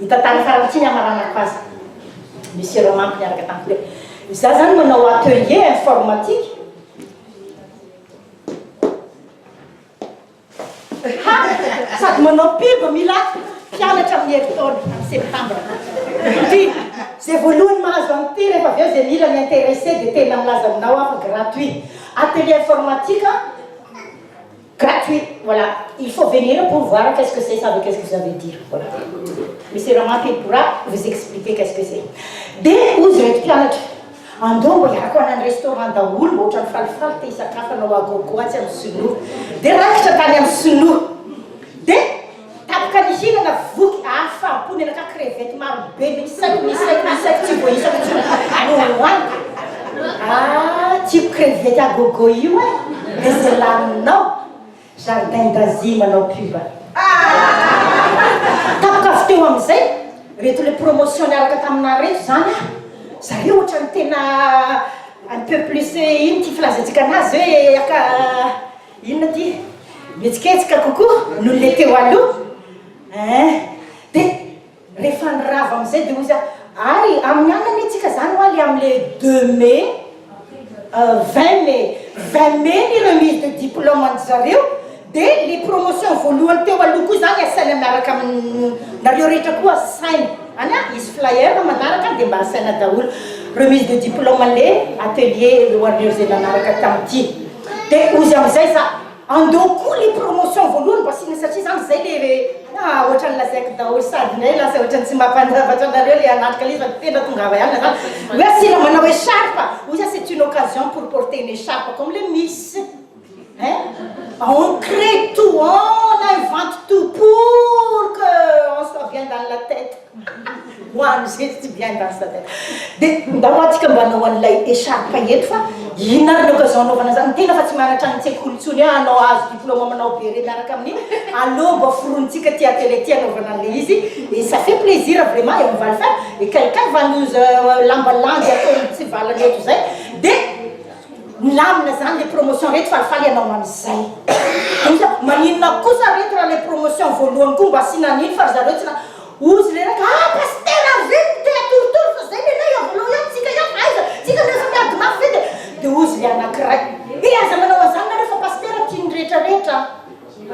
Hita tany farany ity ny hamaranako azy. Misy ireo manko niaraka tamiko hoe izaho izany manao atelier informatique. Ha! Sady manao pub mila mpianatra amin'ny herintaona, amin'ny septambra. Indrindra, izay voalohany mahazo an'ity rehefa avy eo izay mila mi-interesser dia tena milaza aminao aho fa gratuit. Atelier informatique. Gratuit, voilà, il faut venir pour voir qu'est-ce que c'est ça ve qu'est-ce que vous avez dire, voilà. Misy Rama Phil pourra vous expliquer qu'est-ce que c'est. Dia hoy izy ireto mpianatra, andao mba hiaraka ho any amin'ny restaurant daholo mba ohatran'ny falifaly te hisakafo anao à gogo atsy amin'ny sinoa. Dia raikitra tany amin'ny sinoa. Dia. Tapaka ny hina na voky ary fahapo menaka crevette maro be misy saiky misy saiky misy saiky tsy voaisako intsony no hohaniko ah tiako crevette à gogo io eh de ze laninao jardin d'Asie manao pub ah tapaka avy teo amizay reto le promotion niaraka taminah reto zany ah zareo otrany tena un peu plus ino ty filazantsika anazy hoe aka Inona ity? Mihetsiketsika kokoa noho ilay teo aloha? Eeh. Dia rehefa ny rava amin'izay dia hoy za, ary amin'ny alina anie tsika izany hoa le amin'ilay deux mai, euh vingt mai, vingt mai ny remise de diplôme an-dry zareo, dia le promotion voalohany teo aloha koa izany asaina miaraka amin'ny, nareo rehetra koa asaina any an, hisy flyer manaraka dia mba asaina daholo remise de diplôme an'ilay atelier ho an'ireo izay nanaraka tamin'ity. De ozy amizay za andao koa le promotion voalohany mba asina satria za amizay le le ah ohatrany lazaiko daholo sady ndray lasa ohatrany tsy mapan zavatra anareo le hanatrika le izy fa de tena tongava ihany za hoe asina manao echarpe ozy ah c'est une occasion pour porter une echarpe comme le miss hein ah on cree tout on invente tout pour que on soit bien dans la tete Hoan izay tsy bien dance la tête de ndao atsika mba anao an'ilay echarpe eto fa inona ary ny occasion anaovana an'izany, ny tena fa tsy mahanatra ny tsekoly intsony hoe hanao ahazo diploma manao beret miaraka amin'iny, aleo mba foronitsika aty atelier aty anaovana an'ilay izy et ça fait plaisir vraiment et on va le faire et quelqu'un va nous lamba landy atao mitsivalana eto izay de milamina izany ilay promotion rehetra falifaly hanao an'izay maninona kosa re eto raha ilay promotion voalohany koa mba asiana an'iny fa ry zareo tsy na Ozy reraka ah pasitera ary reny no te atorotoro fa zay lehilahy eo voalao ihany tsika ihany fa aiza tsika no efa miady mafy ve de de ozy le anakiray eh aza manao anzany nareo fa pasitera tian'ny rehetra rehetra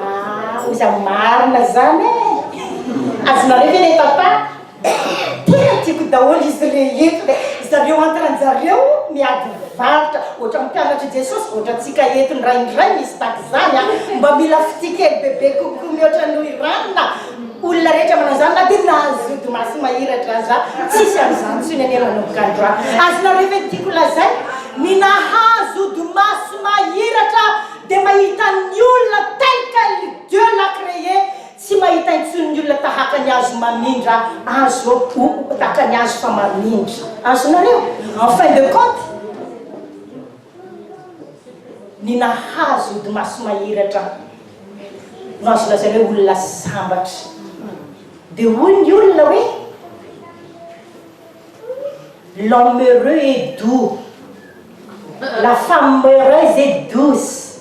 ah ozy am marina zany eh azonareo ve le tantara tena tiako daholo izy rehetra de zareo antranjareo miady varotra ohatran'ny mpianatr'i jesosy vao ohatran'ny tsika eto indraindray misy tahak'izany ah mba mila fitia kely bebe kokoa mihoatra noho i ranona Olona rehetra manao izany na dia nahazodo maso mahiratra aza tsisy an'izany intsony anie manomboka androany. Azonareo ve ny tiako lazaina? Ny nahazodo maso mahiratra dia mahita ny olona tel qu'elle Dieu l'a cree tsy mahita intsony ny olona tahaka ny hazo mamindra azo ou tahaka ny hazo fa mamindra. Azonareo? En fin de compte. Ny nahazo ody maso mahery hatrany no azo lazaina hoe olona sambatra. Dia hoy ny olona hoe L'homme heureux est doux, la femme heureuse est douce.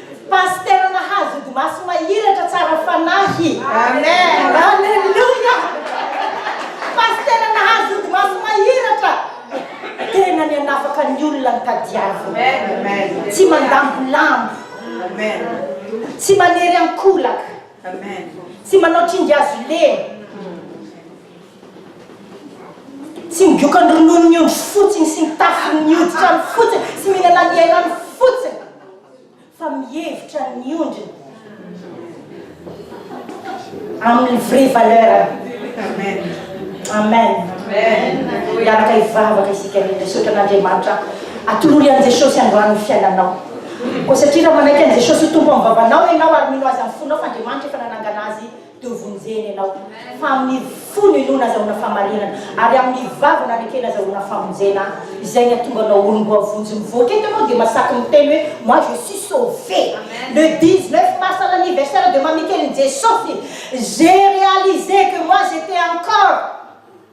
Pasitera nahazo ody maso mahiratra tsara fanahy. Amen. Aleloia. Pasitera nahazo ody maso mahiratra. Tena ny hanafaka ny olona ny tadiaviny. Amen. Tsy mandambolambo. Amen. Tsy manery ankolaka. Amen. Tsy manao tringazo lena. Tsy migoka ny ronono ny ondry fotsiny sy ny tafiny ny hoditra ny fotsiny sy mihinana ny elany fotsiny. fa mihevitra ny ondriny amin'ny vrai valeur-ny amen miaraka hivavaka isika rehetra misaotra an'andriamanitra atolory an'i jesosy androany ny fiainanao koa satria raha manaiky an'i jesosy ho tompo amin'ny vavanao ianao ary mino azy amin'ny fonao fa andriamanitra efa nanangana azy Dia hovonjeny ianao, fa amin' ny fo no inoana azahoana fahamarinana, ary amin' ny vava no anekena azahoana famonjena. Izay ny hahatonga anao olom-boavonjy. Mivoaka eto ianao dia masaky miteny hoe, Moi je suis sauvé. Le 19 mars à l'anniversaire de Mamikely Njesosy, j'ai réalisé que moi j'étais encore.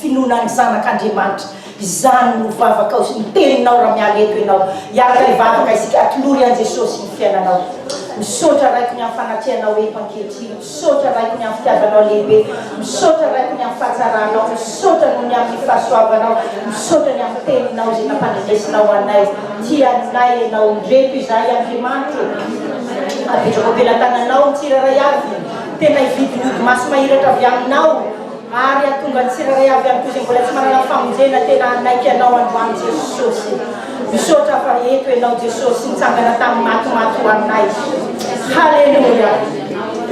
Finoana ny Zanak' Andriamanitra. Izany no vavakao sy ny teninao raha miala eto ianao. Hiaraka hivavaka isika, atolory an'i Jesosy ny fiainanao. Misaotra Raiko ny amin'ny fanatrehanao eto ankehitriny. Misaotra Raiko ny amin'ny fitiavanao lehibe. Misaotra Raiko ny amin'ny fahatsaranao. Misaotra noho ny amin'ny fahasoavanao. Misaotra ny amin'ny teninao izay nampandrenesinao anay. Tia anay ianao. Indreto izahay Andriamanitro ô. Apetrako am-pelatananao ny tsirairay avy. Tena hividy ny odimaso mahiratra avy aminao. Ary hahatonga ny tsirairay avy amiko izay mbola tsy manana famonjena tena hanaiky Anao androany Jesosy. Misaotra fa eto Ianao Jesosy nitsangana tamin'ny maty maty ho anay. Haleloia!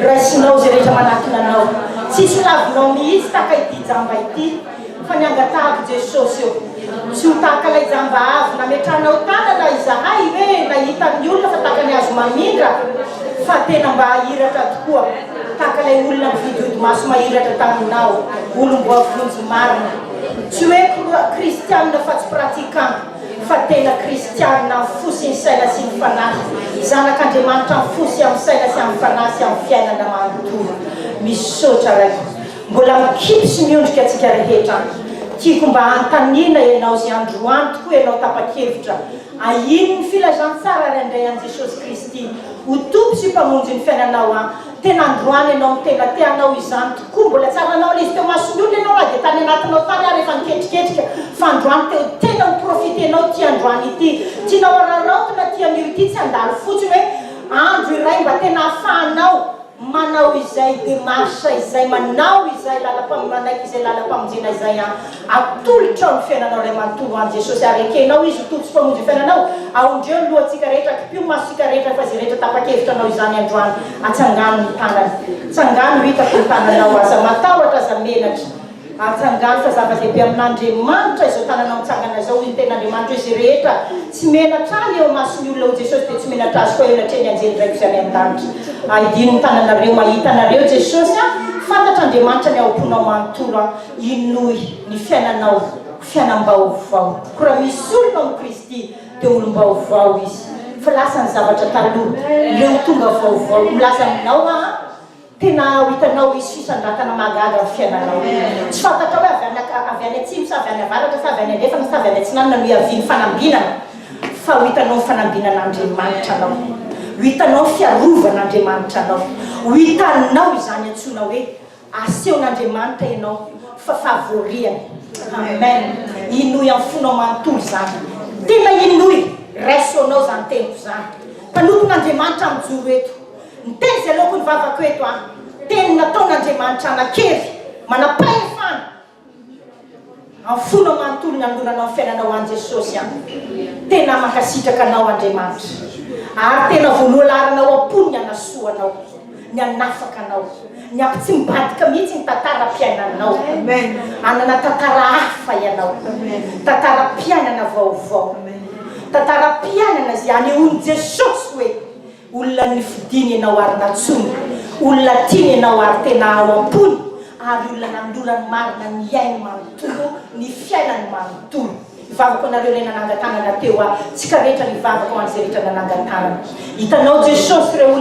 Raisinao izay rehetra manatona Anao. Tsisy lavinao mihitsy tahaka ity jamba ity fa ny angatahako Jesosy o, tsy ho tahaka ilay jamba avy nametrahanao tanana izahay hoe nahita ny olona fa tahaka ny hazo mamindra fa tena mba hahiratra tokoa. Tahaka ilay olona mividy odimaso mahiratra taminao, olom-boavonjy marina. Tsy hoe kristianina fa tsy pratiquant, fa tena kristianina amin'ny fo sy ny saina sy ny fanahy, zanak'Andriamanitra amin'ny fo sy amin'ny saina sy amin'ny fanahy sy amin'ny fiainana manontolo. Misaotra Ray. Mbola mikipy sy miondrika antsika rehetra. Tiako mba hanontaniana Ianao izay androany tokoa Ianao tapa-kevitra. Ahino ny filazantsara ary handray an'i Jesosy Kristy Ho Tompo sy Mpamonjy ny fiainanao an! Tena androany ianao no tena te hanao izany tokoa, mbola tsy ary nanao an'izy teo mason'ny olona ianao na dia tany anatinao tany ary efa niketriketrika, fa androany te ho tena ho profitenao ity androany ity, tianao hararaotina ity anio ity, tsy handalo fotsiny hoe andro iray mba tena ahafahanao manao izay démarche izay, manao izay lalampamoronana izay lalampamonjena izay an! atolotrao ny fiainanao ray manontolo ho any Jesosy ary ekenao Izy ho Tompo sy Mpamonjy ny fiainanao, aondreo ny lohantsika rehetra, kimpio ny masontsika rehetra fa izay rehetra tapa-kevitra hanao izany androany, atsangano ny tanany, tsangano hitako ny tananao, aza matahotra, aza menatra. Atsangano fa zava-dehibe amin'Andriamanitra izao tananao mitsangana izao, hoy ny Tenin'Andriamanitra hoe, Izay rehetra tsy menatra Ahy eo imason'ny olona, hoy Jesosy, dia tsy menatra Azy koa elatrehin'ny anjelin-dRaiko Izay any an-danitra. Aidino ny tananareo mba hahita anareo Jesosy an! Fantatr'Andriamanitra ny ao am-ponao manontolo an! Inoy ny fiainanao, fiainam-baovao. Koa raha misy olona ao amin'i Kristy, dia olom-baovao izy. Fa lasa ny zavatra taloha, leo tonga vaovao. Milaza aminao aho. Tena ho hitanao hoe sisan-dratana mahagaga ny fiainanao. Tsy fantatrao hoe avy any ak, avy any atsimo sa avy any avaratra sa avy any andrefana sa avy any atsinanana no hiavian'ny fanambinana, fa ho hitanao ny fanambinan'Andriamanitra anao. Ho hitanao ny fiarovan'Andriamanitra anao. Ho hitanao izany antsoina hoe asehon'Andriamanitra ianao fa favoriany. Amen! Hinoy amin'ny fonao manontolo izany. Tena hinoy! Raiso anao izany teniko izany. Mpanompon'Andriamanitra mijoro eto. Ny teny izay aleoko hivavaka eto an, teny nataon'Andriamanitra hanan-kery, manam-pahefana amin'ny fona manontolo nanoloranao ny fiainanao any Jesosy an. Tena mankasitraka anao Andriamanitra ary tena voaloha laharanao am-pony ny hanasoa anao, ny hanafaka anao, ny hampitsimbadika mihitsy ny tantaram-piainanao. Hanana tantara hafa ianao, tantaram-piainana vaovao, tantaram-piainana izay hanehoan'i Jesosy hoe. Olona nifidiny ianao ary nantsoiny, olona tiany ianao ary tena ao am-pony, ary olona nanolorany ny marina ny ainy manontolo, ny fiainany manontolo. Hivavako anareo ilay nanangan-tanana teo aho, tsika rehetra mivavaka ho an'izay rehetra nanangan-tanana. Hitanao Jesosy ireo olona.